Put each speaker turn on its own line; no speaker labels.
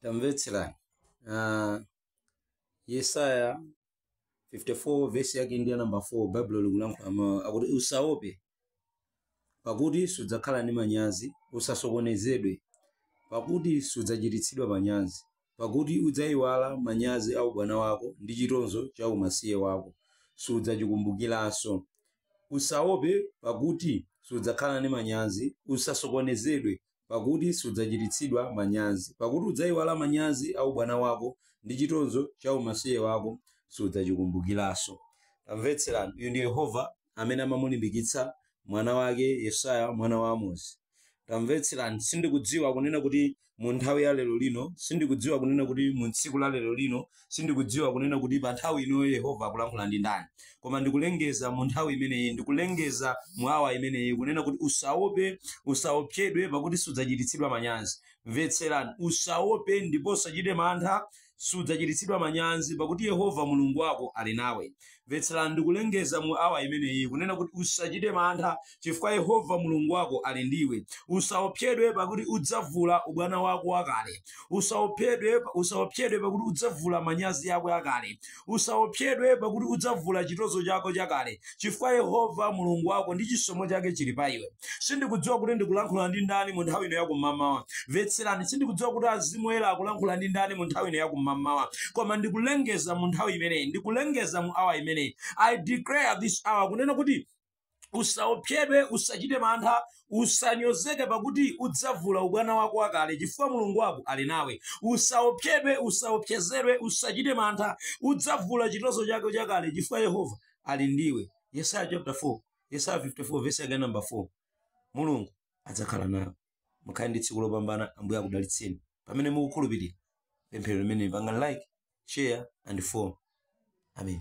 tamvetserani uh, yesaya 54 vesi yake ndi ya namba 4 baibulo likulankhula mawu akuti usaope pakuti sudzakhala ndi manyazi usasokonezedwe pakuti sudzachititsidwa manyazi pakuti udzayiwala manyazi a ubwana wako ndi chitonzo cha umasiye wako sudzachikumbukiranso usaope pakuti sudzakhala ndi manyazi usasokonezedwe pakuti sudzachititsidwa manyazi, pakuti udzaiwala manyazi a ubwana wako, ndi chitonzo cha umasiye wako sudzachikumbukiranso. Tamvetserani, uyu ndi Yehova amene amamulimbikitsa mwana wake Yesaya, mwana wa Amozi. Tamvetserani, sindikudziwa kunena kuti mu nthawi ya lero lino, sindikudziwa kunena kuti mu tsiku la lero lino, Sindikudziwa kunena kuti pa nthawi ino Yehova akulankhula ndi ndani, koma ndikulengeza mu nthawi imeneyi, ndikulengeza mu awa imeneyi kunena kuti usaope, usaopsedwe pakuti sudzachititsidwa manyazi. Mvetserani, usaope ndipo usachite mantha, sudzachititsidwa manyazi pakuti Yehova Mulungu wako ali nawe. Mvetserani ndikulengeza mu awa imeneyi, kunena kuti, Usachite mantha, chifukwa Yehova Mulungu wako ali ndi iwe. Usaopsedwe, pakuti udzavula ubwana wako wakale. Usaopsedwe, usaopsedwe, pakuti udzavula manyazi ako akale. Usaopsedwe, pakuti udzavula chitonzo chako chakale, chifukwa Yehova Mulungu wako ndi chisomo chake chili pa iwe. sindikudziwa kuti ndikulankhula ndi ndani mu nthawi ino yakummawa mvetserani sindikudziwa kuti mzimu woyera akulankhula ndi ndani mu nthawi ino yakummawa koma ndikulengeza mu nthawi imeneyi ndikulengeza mu awa imeneyi i declare this hour kunena kuti usaopsedwe usachite mantha usanyozeke pakuti udzavula ubwana wako wakale chifukwa mulungu wako ali nawe usaopsedwe usaopsezedwe usachite mantha udzavula chitonzo chako chakale chifukwa yehova ali ndiwe yesaya chapter 4 yesaya 54 vesi yake namba 4 mulungu adzakhala nawe mukhale ndi tsiku lopambana ambuye akudalitseni pamene mukukhulupirira pemphero limeneli pangani like share and follow amen